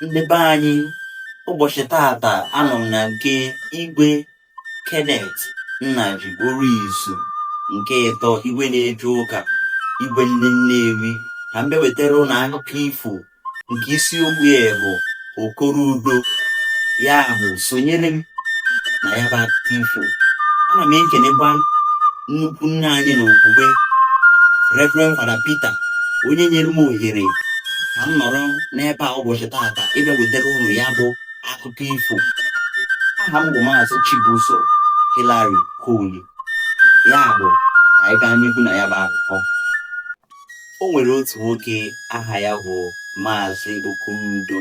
ndị be anyị ụbọchị tata anọ m na nke igwe Kenneth Nnaji Orizu nke ịtọ igwe na-eje ụka igwe ndị nnewi ka m bịa wetara unu akụkọ ifo nke isiokwu ya bụ okoro udo ya bụ sonyere m na ya bụ akụkọ ifo ana m ekenekwa nnukwu nna anyị n'okwukwe Reverend Fada Peter onye nyere m ohere ka m nọrọ n'ebe a ụbọchị taata ịbịa wetara unu ya bụ akụkọ ifo aha m bụ maazị Chibuzo Hillary Okoye ya bụ anyị gaa n'ihu na ya bụ akụkọ o nwere otu nwoke aha ya bụ maazị Okorudo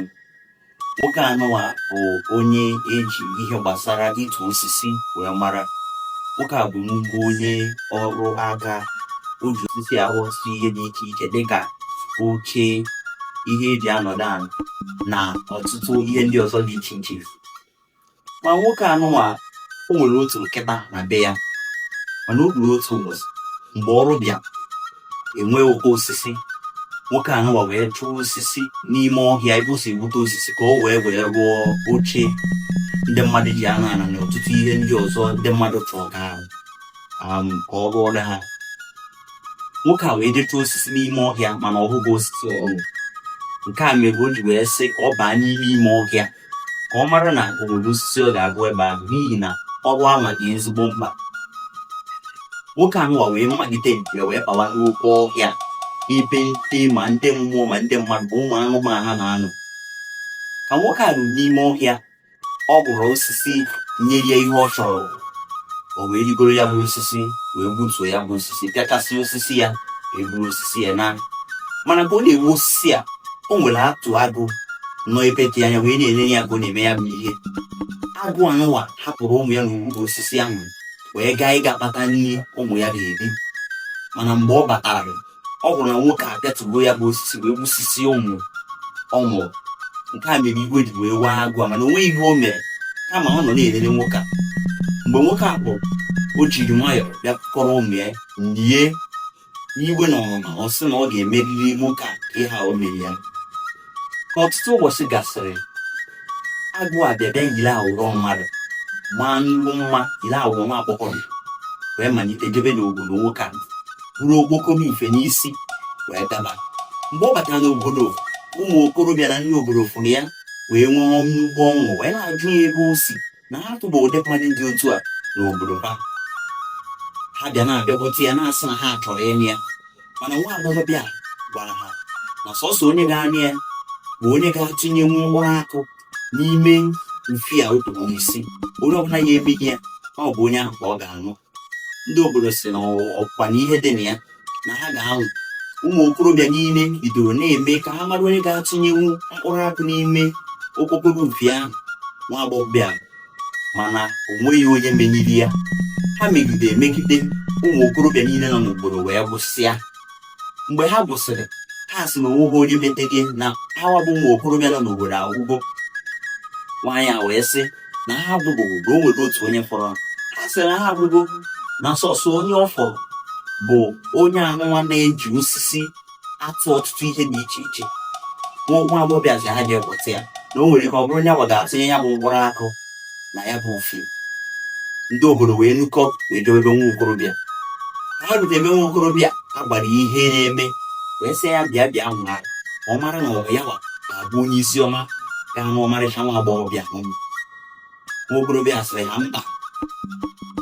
nwoke anụwa bụ onye eji ihe gbasara ịtụ osisi wee mara nwoke a bụ nnukwu onye ọrụ aka o ji osisi arụsị ihe dị iche iche dịka oche ihe eji anọdụ ala na ọtụtụ ihe ndị ọzọ dị iche iche ma nwoke anụnwa o nwere otu nkịta na be ya mana o ruru otu ụbọchị mgbe ọrụ bịa e nwee ụkọ osisi nwoke anụnwa wee chụọ osisi n'ime ọhịa ebe o si egbute osisi ka o wee wee rụọ oche ndị mmadụ ji anọ ala na ọtụtụ ihe ndị ọzọ ndị mmadụ chọrọ ka um, ka ọ rụọrọ ha nwoke a wee jee chụọ osisi n'ime ọhịa mana ọ hụghị osisi ọrụ nke a mere o ji wee sị ka ọ baa n'ime ime ọhịa ka ọ mara na o nwere osisi ọ ga-ahụ ebe ahụ n'ihi na ọrụ anwa dị ezigbo mkpa nwoke anụwa wee malite njem wee bawa n'oke ọhịa ebe ndị ma ndị mmụọ ma ndị mmadụ bụ ụmụ anụmanụ ha na-anọ ka nwoke a ruru n'ime ọhịa ọ hụrụ osisi nyere ya ihe ọ chọrọ o wee rigoro ya bụ osisi wee gbutuo ya bụ osisi pịachasị osisi ya eburu osisi ya naa mana ka ọ na-egbu osisi a o nwere otu agụ nọ ebe dị anya wee na-ele ya ka ọ na-eme ya bụ ihe agụ anụwa hapụrụ ụmụ ya n'ukwu osisi ahụ wee gaa ịga kpata nri ụmụ ya ga-eri mana mgbe ọ batara ọ hụrụ na nwoke a pịatugo ya bụ osisi wee gbusisi ụmụ ọ mụ nke a mere iwe ji wee wee agụ a mana o nweghị ihe o mere kama ọ nọ na-elele nwoke a mgbe nwoke a pụrụ o jiri nwayọọ bịa kpọrọ ụmụ ya nie n'iwe na ọnụma ọ sị na ọ ga-emeriri nwoke a ihe o mere ya ka ọtụtụ ụbọchị gasịrị agụ a bịa bịa yiri awụrọ mmadụ maa nnukwu mma yiri awụrọ nwa agbọghọ wee malite jebe n'obodo nwoke a buru okpokoro ife n'isi wee gaba mgbe ọ batara n'obodo ụmụ okorobịa na ndị obodo fụrụ ya wee nwee nnukwu ọṅụ wee na-ajụ ya ebe o si na ha tụba ụdị mmadụ dị otu a n'obodo ha ha bịa na-abịakwute ya na-asị na ha chọrọ ịnụ ya mana nwa agbọghọ bịa gwara ha na sọsọ onye ga-anụ ya bụ onye ga-atụnyenwu mkpụrụ akụ n'ime mfi a o tụrụ n'isi onye ọbụla ga-emeni ya ọ bụ onye ahụ ka ọ ga-anụ ndị obodo sị na ọkwa na ihe dị na ya na ha ga-anwa ụmụ okorobịa niile bidoro na-eme ka ha mara onye ga-atụnyenwu mkpụrụ akụ n'ime okpokoro mfi ahụ nwa agbọghọbịa mana o nweghị onye meniri ya ha megide emegide ụmụ okorobịa niile nọ n'obodo wee gwụsịa mgbe ha gwụsịrị ha sị na onweghị onye metere na hawa bụ ụmụ okorobịa nọ n'obodo agwụgo nwaanyị a wee sị na ha agwụbeghị na o nwere otu onye fọrọ ha sị na ha agwụgo na sọsọ onye ọ fọrọ bụ onye anụnwa na-eji osisi atụ ọtụtụ ihe dị iche iche nwa agbọghọbịa sị ha je weta ya na o nwere ike ọ bụrụ ya wa ga-atụnye ya bụ mkpụrụ akụ na ya bụ mfi ndị obodo wee nukọ wee bịa ebe nwa okorobịa ha rute ebe nwa okorobịa a gwa ya ihe na-eme wee sị ya bịa bịa nwaa ọ mara na ọ bụ ya wa ga-abụ onye isi ọma ga-anụ ọmarịcha nwa agbọghọbịa ahụ nwa okorobịa sịrị ha mba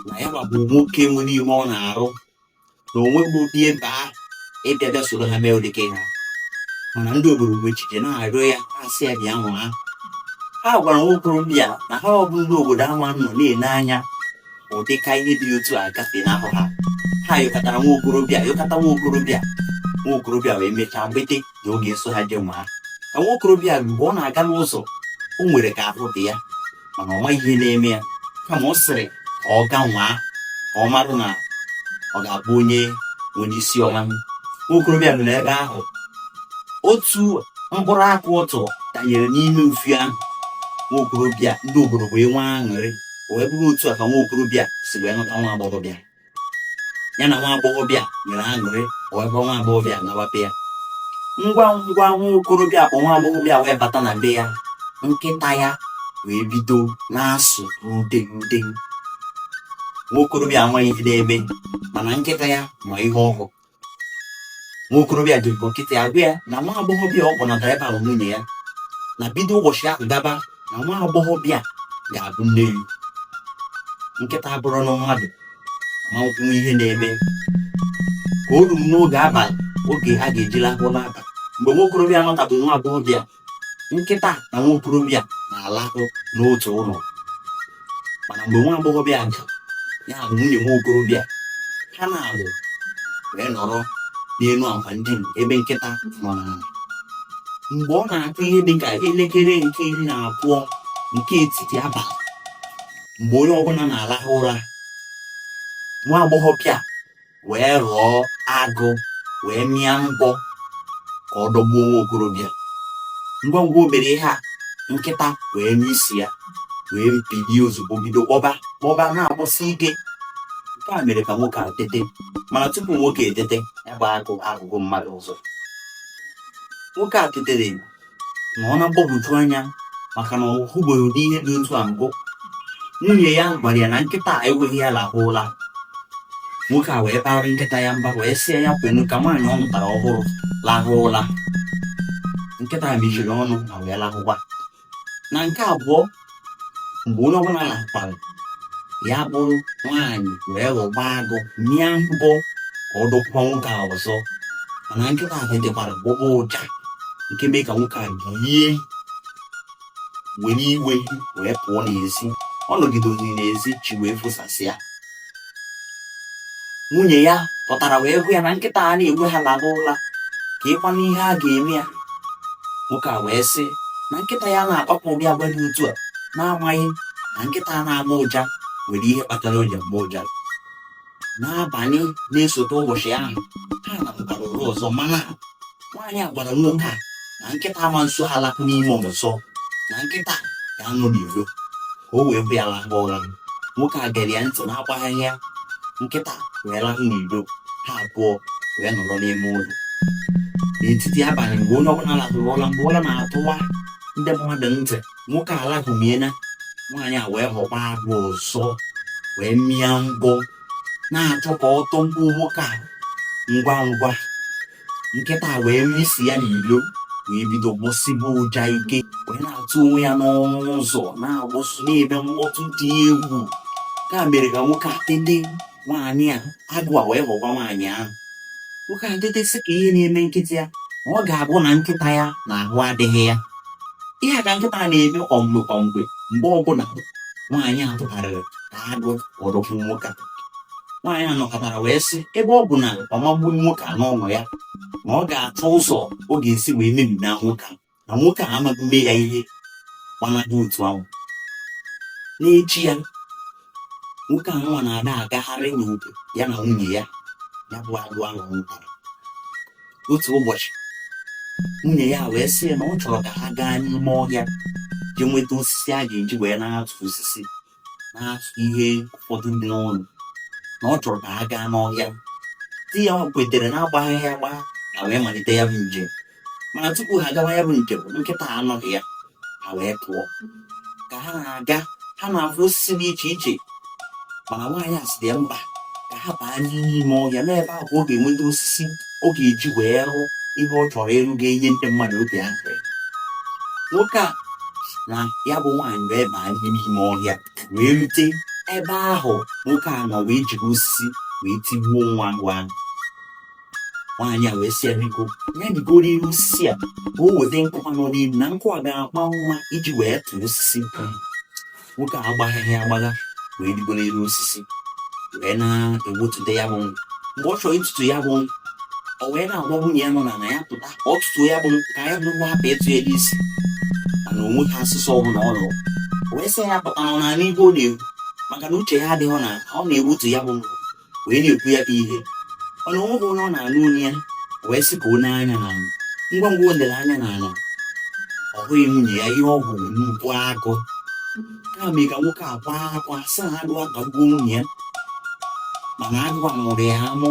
na ya bụ nwoke nwere ihe ọ na-arụ na onweghị ụdị efe ahụ ịbịa bịa soro ha mee ụdịka ihe mana ndị obodo wee jisie ike na-arịọ ya asị ya bịa nwaa ha gwara nwa okorobịa na hawa bụ ndị obodo ama anọ na-ele anya ụdịka ihe dị otu a gafenahụ ha ha yọkatara nwa okorobịa yọkata nwa okorobịa nwa okorobịa wee mechaa kwete na ọ ga-eso ha je nwaa ka nwa okorobịa mgbe ọ na-aga n'ụzọ o nwere ka ahụ dị ya mana ọ maghị ihe na-eme ya kama ọ sịrị ka ọ ga nwaa ka ọ marụ na ọ ga-abụ onye nwere isi ọma nwokorobịa nọ n'ebe ahụ otu mkpụrụ akụ ọ tụrụ danyere n'ime mfi ahụ nwokorobịa ndị obodo wee nwee aṅụrị wee bụrụ otu a ka nwokorobịa si wee nụta nwa agbọghọbịa ya na nwa agbọghọbịa nwere aṅụrị wee du nwa agbọghọbịa nawa be ya ngwa ngwa nwa okorobịa du nwa agbọghọbịa wee bata na be ya nkịta ya wee bido na-asụ ude ude nwa okorobịa amaghị ihe na-eme mana nkịta ya ma ihe ọ hụ nwa okorobịa wee kpọ nkịta ya gwa ya na nwa agbọghọbịa ọ kpọnatara ebe a bụ nwunye ya na bido ụbọchị ahụ gaba na nwa agbọghọbịa ga-abụ nne ya nkịta abụrụ na mmadụ ma kwuo ihe na-eme ka o ruru n'oge abalị oge a ga-eji lahụ n'abalị mgbe nwa okorobịa nọtabụ nwa agbọghọbịa nkịta na nwa okorobịa na-alahụ n'otu ụlọ mana mgbe nwa agbọghọbịa ga ya bụ nwunye nwa okorobịa ha naabọ wee nọrọ n'elu akwa ndina ebe nkịta nọ n'ala mgbe ọ na-akụ ihe dị ka elekere nke iri na abụọ nke etiti abalị mgbe onye ọbụla na-alahụ ụra nwa agbọghọbịa wee ghọọ agụ wee mịa mbọ ka ọ dọgbuo nwa okorobịa ngwa ngwa o mere ihe a nkịta wee nụ isi ya wee bilie ozugbo bido gbọba gbọba na-agbọsi ike nke a mere ka nwoke a tete mana tupu nwoke etete ya bụ agụ aghọgo mmadụ ọzọ nwoke a tetere nọ na mgbagwoju anya maka na ọ hụbeghị ụdị ihe dị otu a mbụ nwunye ya gwara ya na nkịta ekweghị ya lahụ ụla nwoke a wee baara nkịta ya mba wee sị ya kwenu ka nwaanyị ọ lụtara ọhụrụ lahụ ụla nkịta mechiri ọnụ ma wee lahụkwa na nke abụọ mgbe onye ọbụla lahụkwara ya bụrụ nwaanyị wee ghọkwa agụ mịa mbọ ka ọ dọkwa nwoke a ọzọ mana nkịta a tetekwara gbọba ụja nke mee ka nwoke a bilie were iwe wee pụọ n'ezi ọ nọgidoziri n'ezi chi wee fosasịa nwunye ya pụtara wee gwa ya na nkịta anaghị ekwe ha laba ụla keekwanụ ihe a ga-eme ya nwoke a wee sị na nkịta ya anaghị akpabu ụdị agwa dị otu a na-amaghị na nkịta a na-agbọ ụja nwere ihe kpatara o ji agbọ ụja n'abalị na-esote ụbọchị ahụ ha lahụbara ụra ọzọ mana nwaanyị a gwara nwoke a na nkịta ama eso ha lahụ n'ime ụlọ ọzọ na nkịta ga-anọ n'iro ka o wee kwe ya lahụ ụra nwoke a gere ya ntị na-agbaghaghị ya nkịta wee lahụ n'iro ha abụọ wee nọrọ n'ime ụlọ n'etiti abalị mgbe onye ọbụla lahụrụ ụra mgbe ụra na-atọwa ndị mmadụ ntị nwoke alahụmiena nwaanyị a wee ghọkwa agụ ọzọ wee mịa mbọ na-achọ ka ọ dọgbuo nwoke a ngwa ngwa nkịta wee nụ isi ya n'ilo wee bido gbọsiba ụja ike wee na-atụ onwe ya n'ọnụ ụzọ na-agbọsi na-eme mkpọtụ dị egwu nke a mere ka nwoke a tete nwaanyị a agụ a wee ghọkwa nwaanyị ahụ nwoke a tete sị kee ihe na-eme nkịta ya ọ ga-abụ na nkịta ya na ahụ adịghị ya ihe a ka nkịta na-eme kwa mgbe kwa mgbe mgbe ọbụla nwaanyị a tụgharịrị na agụ ọ dọgbuo nwoke nwaanyị a nọkọtara wee sị ebe ọ bụ na ọ ma egbu nwoke a n'ụlọ ya na ọ ga-achọ ụzọ ọ ga-esi wee mebi na nwoke na nwoke a amaghị mme ya ihe gbanadị otu ahụ n'echi ya nwoke a wee na-agagharị n'obodo ya na nwunye ya ya bụ agụ ahụ ọ nụtara otu ụbọchị nwunye ya wee sị na ọ chọrọ ka ha gaa n'ime ọhịa jee nweta osisi a ga-eji wee na-atụ osisi na-atụ ihe ụfọdụ dị n'ụlọ na ọ chọrọ ka ha gaa n'ọhịa di ya kwetere na-agbaghị ya agbagha ha wee malite ya bụ njem mana tupu ha gawa ya bụ njem nkịta anọghị ya ha wee pụọ ka ha na-aga ha na-afụ osisi dị iche iche mana nwaanyị a sị ya mba ka ha baa n'ime ime ọhịa na ebe ahụ ka ọ ga-enweta osisi ọ ga-eji wee rụ ihe ọ chọrọ ịrụ ga-enye ndị mmadụ obi aṅụrị nwoke a na ya bụ nwaanyị wee baa n'ime ime ọhịa wee rute ebe ahụ nwoke a nọ wee jiri osisi wee tigbuo nwa agụ ahụ nwaanyị a wee sị ya biko ya rigoro elu osisi a ka o weta nkụ nọ n'elu na nkụ a ga-aka mma iji wee tụọ osisi nwoke a agbaghị ya agbagha wee rigo n'elu osisi wee na-ewotute ya bụ mgbe ọ chọrọ ịtụtu ya bụ o wee na-agwa nwunye ya nọ n'ala ya pụta ka ọ tụtu ya bụ ka ya bụ nkụ hapụ ịtụ ya n'isi mana o nweghị asụsụ ọbụla ọ nụrụ o wee sị ya pụta n'ala ihe ọ na-ekwu maka na uche ya adịghị na ọ na-ewotu ya bụ wee na-ekwu ya bụ ihe mana o nweghị onye ọ na-anụ olu ya wee sị ka o lee anya n'ala ngwa ngwa o lere anya n'ala ọ hụghị nwunye ya ihe ọ hụrụ bụ nnukwu agụ nke a mee ka nwoke a kwaa akwa sị na agụ atagbuo nwunye ya mana agụ a mụrụ ya amụ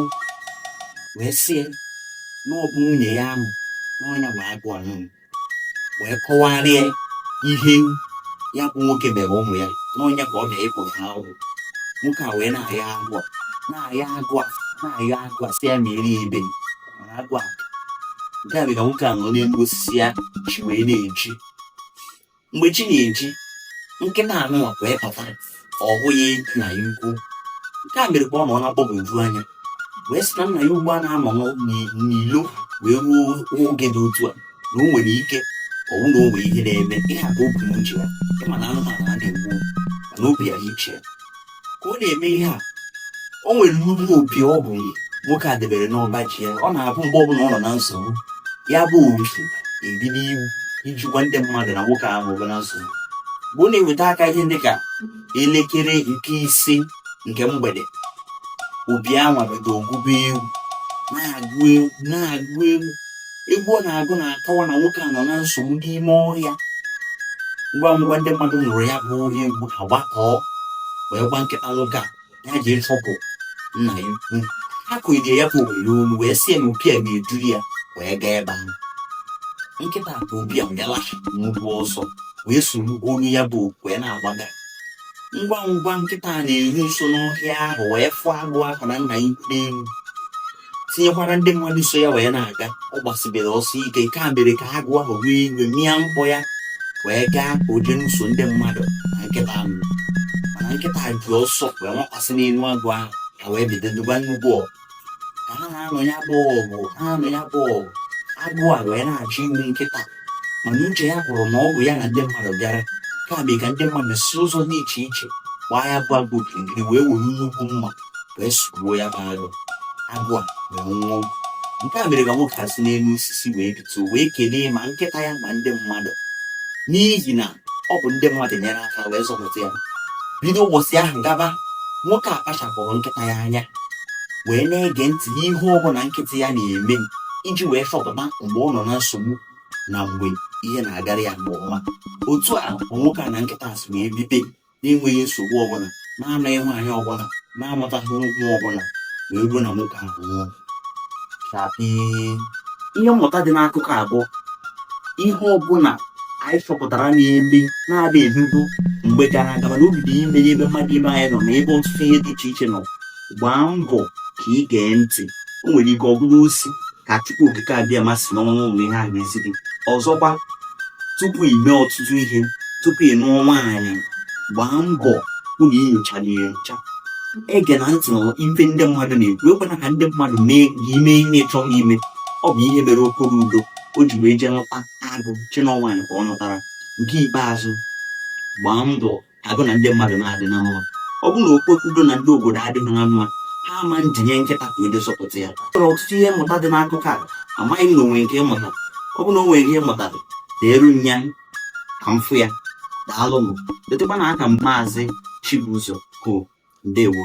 wee sị ya na ọ bụ nwunye ya ahụ na ọ nya bụ agụ ahụ wee kọwara ya ihe ya bụ nwoke mere ụmụ ya na ọ nya ka ọ bịara ịkwụ ụgwọ nwoke a wee na-ayọ agụ a na-ayọ agụ a na-ayọ agụ a sị ya mere ebere mana agụ a nke a mere ka nwoke a nọ n'elu osisi a chi wee na-eji mgbe chi na-eji nkịta anwa wee pụta ọ hụghị nna ya ukwu nke a mere ka ọ nọ na mgbagwoju anya wee sị na nna ya ukwu anaghị anọ n'ilo wee ruo oge dị otu a na o nwere ike ọ bụrụ na o nwere ihe na-eme ịhapụ obi n'uche ya ị ma na anụmanụ a na-egbu mana obi ya iche ka ọ na-eme ihe a o nwere nnukwu opi ọ bụ nwoke a debere n'ọba ji ya ọ na-abụ mgbe ọbụla ọ nọ na nsogbu ya bụ opi ebido egwu iji gwa ndị mmadụ na nwoke ahụ bụ na nsogbu mgbe ọ na-eweta aka ihe dị ka elekere nke ise nke mgbede opi anwa bido gụba egwu na-agụ egwu na-agụ egwu egwu ọ na-agụ na-akọwa na nwoke a nọ na nsogbu n'ime ọhịa ngwa ngwa ndị mmadụ nụrụ ya bụ olu egwu ha gbakọọ wee gwa nkịta nwoke a ya je ịchọpụ nna ya ukwu ha kụnyere ya bụ owere olu wee sị ya na opi a ga-eduru ya wee gaa ebe ahụ nkịta bụ obi a bịala nnukwu ọsọ wee soro olu ya bụ egwu wee na-agbaga ngwa ngwa nkịta na-eru nso n'ọhịa ahụ wee fụọ agụ ahụ na nna ya n'elu tinyekwara ndị mmadụ so ya wee na-aga ọ gbasibere ọsọ ike nke a mere ka agụ ahụ wee iwe mịa mbọ ya wee gaa ka o jee nụso ndị mmadụ na nkịta ọgụ mana nkịta ji ọsọ wee nwakwasị n'elu agụ ahụ ha wee bido nụba nnukwu ọgụ ka ha na-anụ ya bụ ọgụ agụ a wee na-achọ igbu nkịta mana uche ya kwụrụ na ọ bụ ya na ndị mmadụ bịara nke a mere ka ndị mmadụ si ụzọ dị iche iche gbaa ya bụ agụ okirikiri wee were nnukwu mma wee sugbuo ya bụ agụ agụ a wee nwụọ nke a mere ka nwoke a si n'elu osisi wee bito wee kelee ma nkịta ya ma ndị mmadụ n'ihi na ọ bụ ndị mmadụ nyere aka wee zọpụta ya bido ụbọchị ahụ gaba nwoke a kpachapụrụ nkịta ya anya wee na-ege ntị n'ihe ọ bụla nkịta ya na-eme iji wee chọpụta mgbe ọ nọ na nsogbu na mgbe ihe na-agara ya nke ọma otu a nwoke a na nkịta si wee bibe na-enweghị nsogbu ọbụla na-anụghị nwaanyị ọbụla na-amụtaghị nwa ọbụla wee ruo na nwoke ahụ nwụọ ihe mmụta dị n'akụkọ a bụ ihe ọbụla anyị chọpụtara na-eme na-adịghị emebu mgbe gara aga mana o bido ime ebe mmadụ ibe anyị nọ na ebe ọtụtụ ihe dị iche iche nọ gbaa mbọ ka ị gee ntị o nwere ike ọ bụrụ ozi ka chukwu okike abịama si n'ọnụ ụmụ ihe a na-ezi gị ọzọkwa tupu ị mee ọtụtụ ihe tupu ị nụọ nwaanyị gbaa mbọ hụ na i nyochara ya ncha egena ntị n'ife ndị mmadụ na-ekwu ekwena ka ndị mmadụ mee gị ime ihe ị chọghị ime ọ bụ ihe mere okoro udo o ji wee jee nụta agụ chee na ọ nwaanyị ka ọ nụtara nke ikpeazụ gbaa mbọ ka gị na ndị mmadụ na-adị na mma ọ bụrụ na okoro udo na ndị obodo adịghị na mma ha ama jee nye nkịta aka wee zọpụta ya e nwere ọtụtụ ihe mmụta dị n'akụkọ a amaghị m ma o nwee nke ị mụtara ọ bụrụ na o nwere ihe ị mụtara deere m ya ka m fụ ya daalụ m letakwa na aka m maazị Chibuzo ko ndewo